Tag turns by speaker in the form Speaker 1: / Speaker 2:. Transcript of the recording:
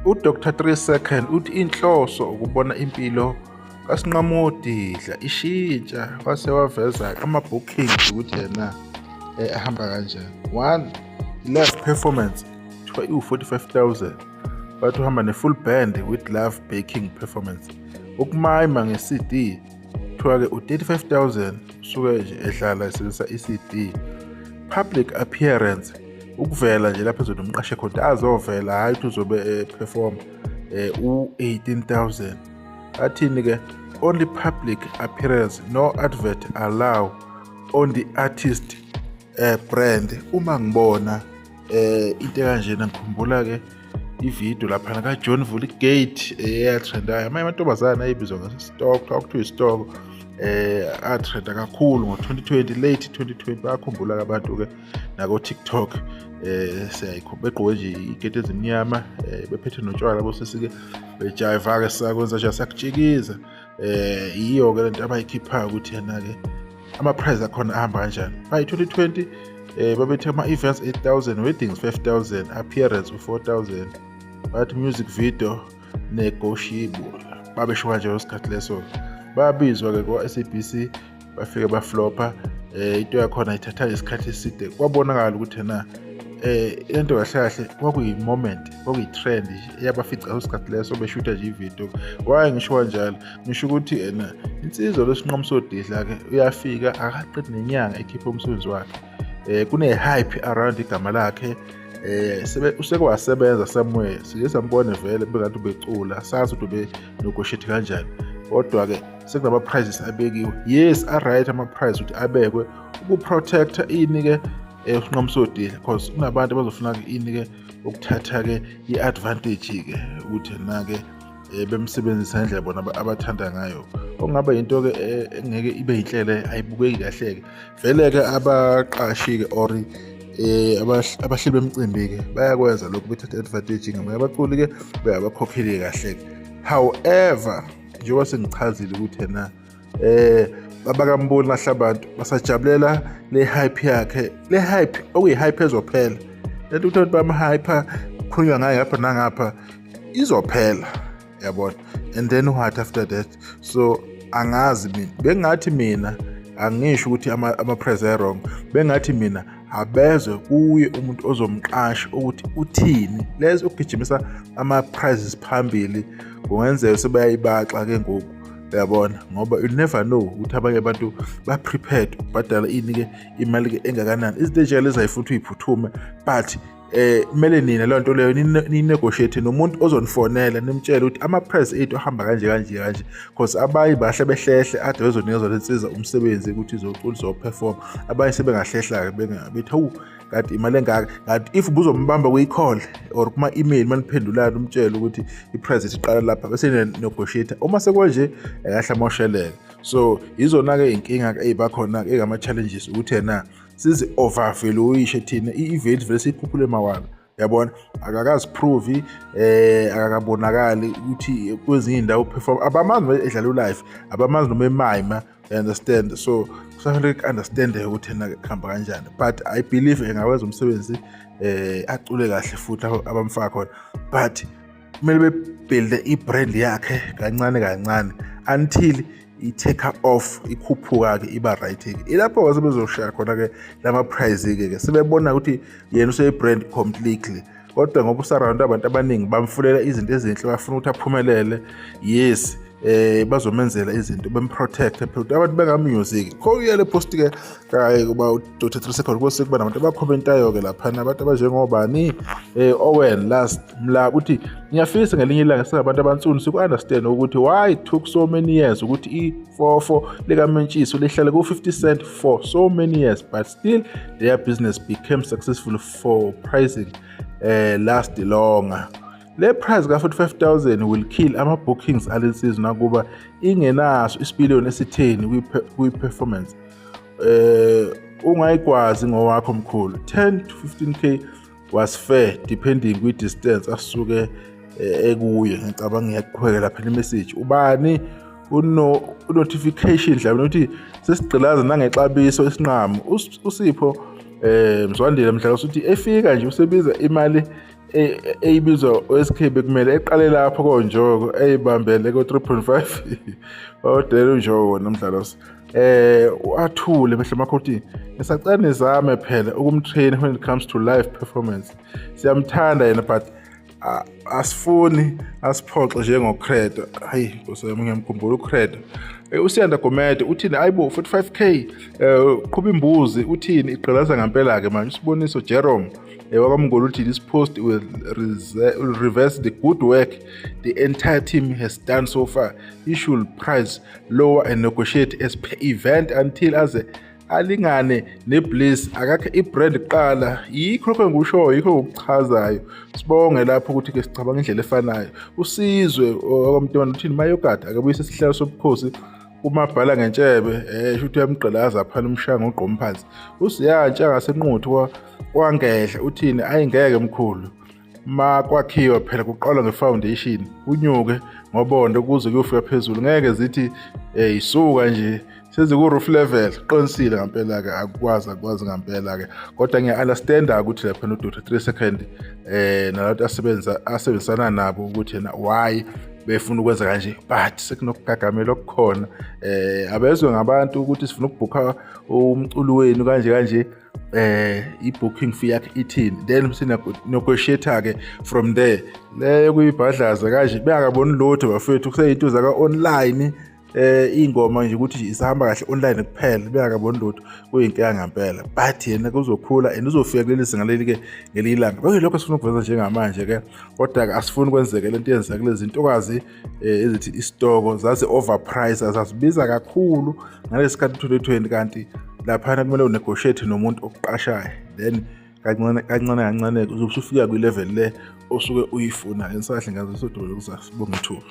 Speaker 1: uDr. Three Second uthi inhloso ukubona impilo kasinqamodidla ishintsha wase waveza ama-booking ukuthi yena um ahamba kanjani one live performance kuthiwa iwu-45 000 bathi uhamba ne-full band with love baking performance ukumayima nge-cd kuthiwa-ke u-35000 usuke nje ehlala esebenzisa i-cd public appearance ukuvela nje lapho ezothi umqashe khona azovela hhayi ukuthi uzobe eperform eh, eh, u-18000 athini-ke only public appearance no advert allow on the artist uh, brand uma ngibona eh into kanjena ngikhumbula ke ivideo laphana kajohn vuligate eyatrendayo eh, amanye amantombazane ayebizwa ngesitoko kwakuthiwa isitoko um eh, atrenda kakhulu ngo-2020 late 2020 bayakhumbula-ke abantu-ke nako-tiktok um eh, siyayikho begqoke nje iketi ezimnyama um bephethe notshwala bosesike bejayiva-ke sakwenza nje sakutshikiza eh yiyo ke lento abayikhiphayo ukuthi yena ke ama prize akhona ahamba kanjani by 2020 eh babethe ama events 8000 weddings 5000 appearance u4000 but music video negotiable babesho kanje ngesikhathi leso babizwa ke kwa-SABC bafike baflopha eh into yakhona ithatha isikhathi eside kwabonakala ukuthi na eh into kahle kahle kwakuyi moment kwakuyi trend eyabafica usikhathi leso beshutha nje ivideo waye ngisho kanjalo ngisho ukuthi ena insizwa lesinqomo sodidla ke uyafika akaqedi nenyanga ekhipha umsebenzi wakhe eh kune hype around igama lakhe eh sebe usekwasebenza somewhere siye sambone vele bengathi ubecula sazi ukuthi ube nogoshethi kanjani kodwa ke sekunama prizes abekiwe yes a right ama prize ukuthi abekwe uku protector ini ke eh, usinqomo sodile because kunabantu abazofuna ke ini ke ukuthatha ke i advantage ke ukuthi na ke eh, bemsebenzisa ngendlela bona abathanda ngayo okungaba yinto ke eh, engeke ibe yinhlele ayibukeki kahle ke vele ke abaqashi ke or eh abahleli bemcimbi ke bayakwenza lokho bethatha advantage ngamanye abaculi ke bayabakhokheli kahle however njengoba sengichazile ukuthi yena eh babakamboni nahle abantu basajabulela le hype yakhe le hype okuyi hype ezophela lento ukuthi abantu bamhype khulunywa ngayo ngapha nangapha izophela yabona and then what after that so angazi mina bengathi mina angisho ukuthi ama-press ama wrong bengathi mina abezwe kuye umuntu ozomqasha ukuthi uthini lezi ukugijimisa ama-prizes phambili kungenzeka sebayayibaxa ke ngoku uyabona ngoba you never know ukuthi abanye abantu ba-prepared ubhadala ini-ke imali-ke engakanani izinto ezinjalo ezayifuthi uyiphuthume but eh kumele nina le nto leyo ninegotiate nomuntu ozonifonela nimtshele ukuthi ama-price ethu ahamba kanje kanje kanje because abanye bahle behlehle ade bezonikezwa le nsiza umsebenzi ukuthi izocula izoperform abanye sebengahlehla-ke bethi hawu kanti imali engaka kanti if buzombamba kwi-call or kuma-email uma niphendulana umtshele ukuthi i-price ethu iqala lapha bese ninegotiate uma sekwanje akahle amosheleke so yizona-ke iy'nkinga-ke ey'bakhona-ke engama-challenges ukuthi yena sizi overvaluation thina i-event vele siyikhuphule mawala yabona akakaziprovi eh akakabonakali ukuthi kwezinye indawo perform abamazi noma edlala ulife abamazi noma emayima you understand so kusafanele ku-understand ukuthi na kuhamba kanjani but i believe engawenza umsebenzi eh acule kahle futhi abamfaka khona but kumele bebhilde i-brand yakhe kancane kancane until i-take off ikhuphuka-ke iba right-ke ilapho-ke sebezoshaya khona-ke lama-prize-ke ke sebebona ukuthi yena useyi-brand completely kodwa ngoba usaround abantu abaningi bamfunela izinto ezinhle bafuna ukuthi aphumelele yes eh bazomenzela izinto bemprotect phela abantu benga music kho uyale post ke kayi kuba udoti 3 second kwese kuba nabantu abakhomentayo ke lapha nabantu abanjengobani eh Owen last mla uthi ngiyafisa ngelinye ilanga singabantu abansundu siku understand ukuthi why it took so many years ukuthi i 44 lika Mentshiso lihlale ku 50 cent for so many years but still their business became successful for pricing eh last longer Le price ka-45000 will kill ama-bookings ale nsizwa nakuba ingenaso isipiliyoni esitheni kwi-performance eh ungayikwazi ngowakho mkhulu 10 to 15k was fair depending kwi-distance asuke eh, ekuye ngicabanga ngiyakuqhubeka lapha nemessage ubani uno notification mhlawumbe ukuthi sesigqilaza nangexabiso esinqamu usipho eh mzwandile mhlawumbe uthi efika nje usebiza imali eyibizwa oSK bekumele eqale lapho konjoko eyibambele ko 3.5 odela unjoko nomdlalo eh uathule mehlo makhothi ngisacela nizame phela ukumtrain when it comes to live performance siyamthanda yena but asifuni asiphoxe njengocredo hayi nkosi yami ngiyamkhumbula ucredo eh, usiyanda gomede uthini ayibo 45k um eh, qhuba imbuzi uthini igqilaza ngempela-ke manje usiboniso jerome ewakwamngolo uthi this post will, will reverse the good work the entire team has done so far he should price lower and negotiate as per event until aze alingane nebliss akakhe ibrand kuqala yikho lokho engikushoyo yikho ngokuchazayo sibonge lapho ukuthi ke sicabanga indlela efanayo usizwe okwamntwana uthini mayogada akebuyise isihlalo sobukhosi uma bhala ngentshebe eh shuthi uyamgqilaza aphana umshanga ugqoma phansi usiyantsha ngasenquthu kwangedla uthini ayingeke mkhulu ma kwakhiwa phela kuqalwa ngefoundation unyuke ngobondo kuze kuyofika phezulu ngeke zithi eh isuka nje seziku-roof level qinisile ngampela-ke akukwazi akukwazi ngampela-ke kodwa ngiya-understanda ukuthi lapha no-dota three second um eh, nalabantu asebenzisana nabo ukuthi yena why befuna ukwenza kanje but sekunokugagamela okukhona eh abezwe ngabantu ukuthi sifuna ukubhukha umculo wenu kanje kanje eh i-booking fee yakhe ithini then sinokwesheta-ke from there leyo kuyibhadlaza kanje bengakaboni lutho bafethu kuseyinto zaka-online eh ingoma nje ukuthi isahamba kahle online kuphela beyakaboni lutho kuyinkinga ngempela but yena kuzokhula and uzofika kuleli zinga leli ke ngelinye ilanga konke lokho sifuna ukuveza njengamanje ke kodwa ke asifuni kwenzeke lento yenzeka kulezi ntokazi eh, ezithi isitoko zazi overprice azazibiza kakhulu ngalesikhathi 2020 kanti laphana kumele unegotiate nomuntu okuqashayo then kancane kancane kancane uzobe usufika kwi-level le osuke uyifuna ngisahle ngazo sodolo kusasa bonga ithuba